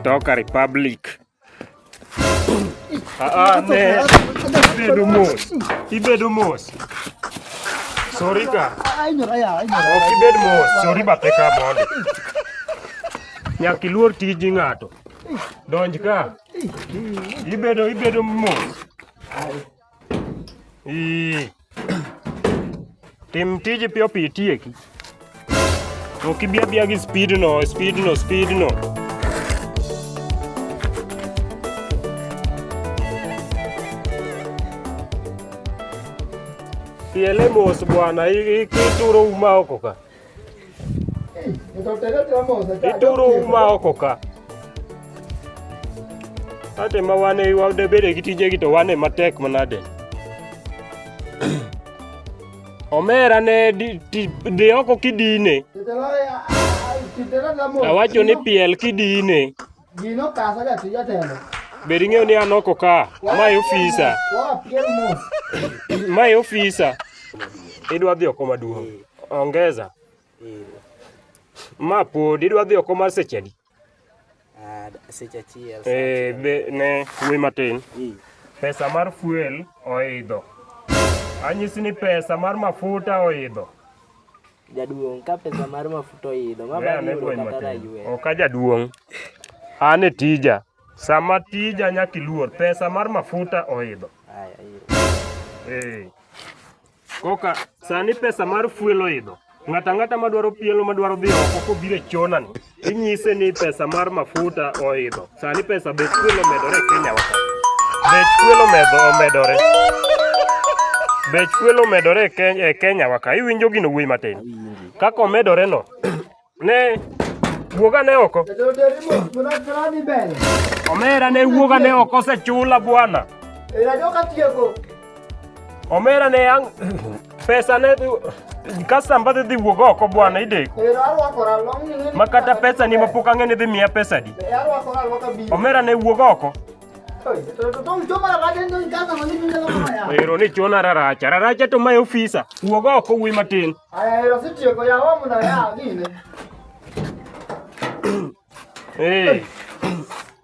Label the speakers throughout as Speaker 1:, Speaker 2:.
Speaker 1: Toka Republic. Ah, ah, ne. Ibedo mos. Ibedo mos. Sorry ka. Ai, nyora ya. Ok ibed mos. Sorry bathe ka mondo. Nyaka iluor tij ng'ato. Donj ka. Ibedo ibedo mos. Ii. Tim tij piyo piyo itieki. Ok ibi abiya gi speed no, speed no, speed no. Piele mos bwana, i- i- ituro uma oko ka. Ituro uma oko ka. Ate ma wan e wade bede gi tije gi to wan e matek manade. Omera ne di oko kidine. Awacho ni piel kidine.
Speaker 2: Gino kasa ja tija telo. Be ring'eyo ni an
Speaker 1: oko ka? Mae ofisa. Mae ofisa. Idwa dhi oko maduong'. Ongeza. Ma pod idwa dhi oko mar seche adi? Ah,
Speaker 3: seche achiel. Eh, be ne
Speaker 1: wuoyi matin. Pesa mar fuel oidho. Anyisi ni pesa mar mafuta oidho.
Speaker 3: Jaduong' ka pesa mar mafuta oidho, ma bang'
Speaker 1: yudo kata raywe. Ok a jaduong'. An e tija. Sama tija nyaka iluor. Pesa mar mafuta oidho. Koka sani pesa mar fuel oidho. Ng'ata ng'ata madwaro pielo madwaro dhi oko kobire chonani. Inyise ni pesa mar mafuta oidho. Sani pesa bech fuel omedore e Kenya waka. Bech fuel omedho omedore. Bech fuel omedore e Kenya, e Kenya waka. Iwinjo gino wuoyi matin. Kaka omedore no. ne wuoga ne oko. Omera ne wuoga ne oko osechula bwana. Era joka tieko. omera ne ang pesa ne kasa mbadhi dhi wuog oko bwana ideko ma kata pesa ni mapok ang'e ni dhi miya pesa di omera ne wuog oko ero ni chona raracha raracha to mae ofisa wuog oko wuyi matin Hey.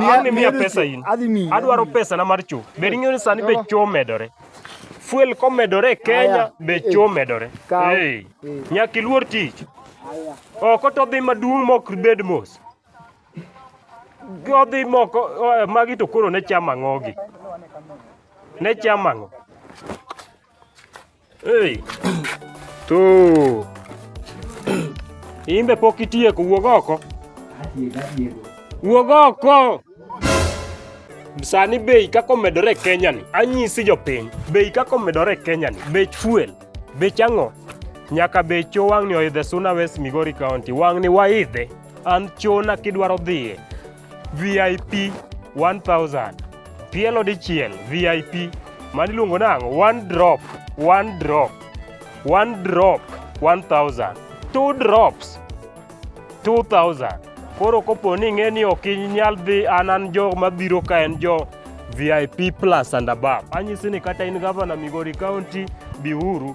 Speaker 1: Aonge miya pesa in. Adhi miyi. Adwaro pesa na mar cho. Be ring'eyo ni sani be cho medore. Fuel komedore e Kenya be cho medore. Hey. Nyaka iluor tich. Oko to dhi maduong' mok bed mos. Odhi moko magi to koro ne chama ng'ogi. Ne chama ng'o. Hey. Tu. Imbe pok itieko wuog oko. Wuog oko. Sani bei kaka omedore e Kenya ni, anyisi jopiny, bei kaka omedore e Kenya ni, bech fuel, bech ang'o, nyaka bech cho wang'ni oidhe Suna West Migori County, wang'ni waidhe, an chona kidwaro dhiye VIP 1000 tielo dichiel VIP mani luongo nang one drop one drop one drop 1000 two drops 2000 koro kopo ni ing'e ni ok inyal dhi an an jo mabiro ka en jo VIP plus and above anyisi ni kata in gavana Migori County biuru